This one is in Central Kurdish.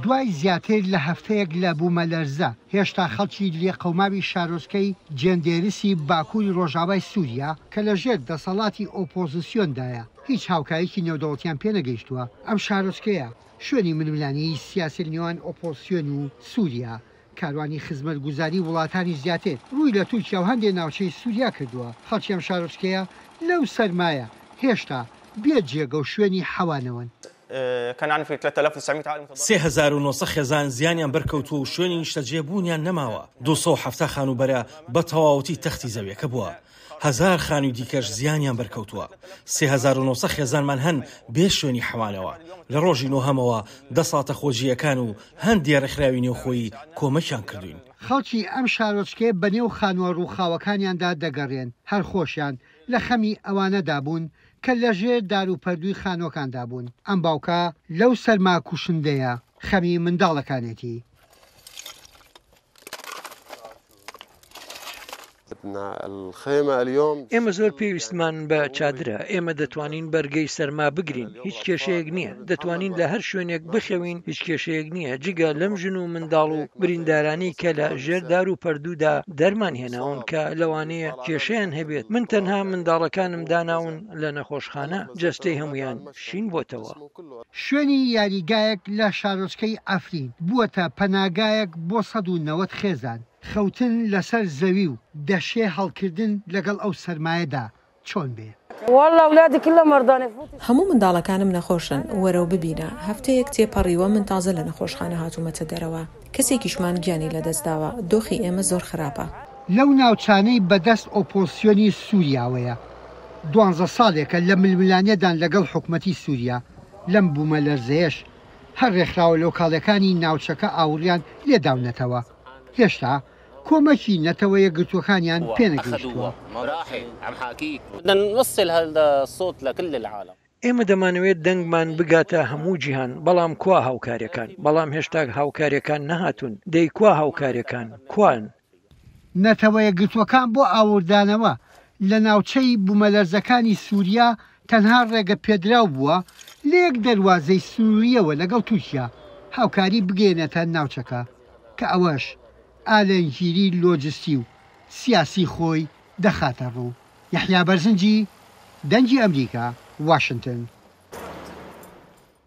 دوای زیاتر لە هەفتەیەک لە بوومەلەرزە، هێشتا خەڵکی لێقەوماوی شارۆچکەی جێندێرسی باکووری ڕۆژاوای سووریا کە لەژێر دەسەڵاتی ئۆپۆزسیۆندایە، هیچ هاوکاریی نێودەوڵەتیان پێنەگەیشتووە. ئەم شارۆچکەیە شوێنی ململانێی سیاسییە نێوان ئۆپۆزسیۆن و سووریا. کاروانی خزمەتگوزاریی وڵاتانی زیاتر ڕووی لە تورکیا و هەندێ ناوچەی سووریا کردووە. خەڵکی ئەم شارۆچکەیە لەو سەرمایە هێشتا بێ جێگە و شوێنی حەوانەوەن. سێ هەزار و نۆ سەد خێزان زیانیان بەرکەوتووە و شوێنی نیشتەجێ بوونیان نەماوە، دوو سەد و حەفتا خانووبەرە بە تەواوەتی تەختی زەویەکە بووە، هەزار خانووی دیکەش زیانیان بەرکەوتووە، سێ هەزار و نۆ سەد خێزانمان هەن بێ شوێنی حەوانەوە، لە ڕۆژی نۆهەمەوە دەسڵاتە خۆجییەکان و هەندێ ڕێکخراوی نێوخۆیی کۆمەکیان کردووین. خەڵکی ئەم شارۆچکەیە بەنێو خانووە ڕووخاوەکانیاندا دەگەڕێن، هەر خۆشیان لە خەمی ئەوانەدا بوون کە لە ژێر داروپەردووی خانووەکاندا بوون، ئەم باوکە لەو سەرما کوشندەیە خەمی منداڵەکانێتی. ئێمە زۆر پێویستمان بە چادرە، ئێمە دەتوانین بەرگەی سەرما بگرین، هیچ کێشەیەک نییە. دەتوانین لە هەر شوێنێک بخەوین هیچ کێشەیەک نییە جگە لەم ژن و منداڵ و بریندارانەی کە لە ژێر دار و پەردوودا دەرمان هێناون کە لەوانەیە کێشەیان هەبێت من تەنها منداڵەکانم داناون لە نەخۆشخانە جەستەی هەموویان شین بۆتەوە. شوێنی یاریگایەک لە شارۆچکەی عەفرین بووەتە پەناگایەک بۆ سەد و نەوەد خێزان، خەوتن لەسەر زەوی و دەشێ هەڵکردن لەگەڵ ئەو سەرمایەدا چۆن بێ. هەموو منداڵەکانم نەخۆشن وەرەو ببینە، هەفتەیەک تێپەڕیوە من تازە لە نەخۆشخانە هاتوومەتە دەرەوە، کەسێکیشمان گیانی لەدەستداوە، دۆخی ئێمە زۆر خراپە. لەو ناوچانەی بەدەست ئۆپۆزسیۆنی سووریاوەیە، دوانزە ساڵێکە لە ململانێدان لەگەڵ حکومەتی سووریا، لەم بوومەلەرزەیەش هەر رێکخراوە لۆکاڵەکانی ناوچەکە ئاوڕیان لێداونەتەوە، هێشتا کۆمەکی نەتەوە یەکگرتووەکانیان پێ نەگەیشتووە. ئێمە دەمانەوێت دەنگمان بگاتە هەموو جیهان، بەڵام کوا هاوکارییەکان؟ بەڵام هێشتاک هاوکارییەکان نەهاتوون، دەی کوا هاوکارییەکان؟ کوان؟ نەتەوە یەکگرتووەکان بۆ ئاوردانەوە لە ناوچەی بوومەلەرزەکانی سووریا تەنها ڕێگە پێدراو بووە لە یەک دەروازەی سنوورییەوە لەگەڵ تورکیا هاوکاری بگەیەنێتە ناوچەکە کە ئەوەش ئالەنگیری لۆجستی و سیاسی خۆی دەخاتە ڕوو. یەحیا بەرزنجی، دەنگی ئەمریکا، واشنتن.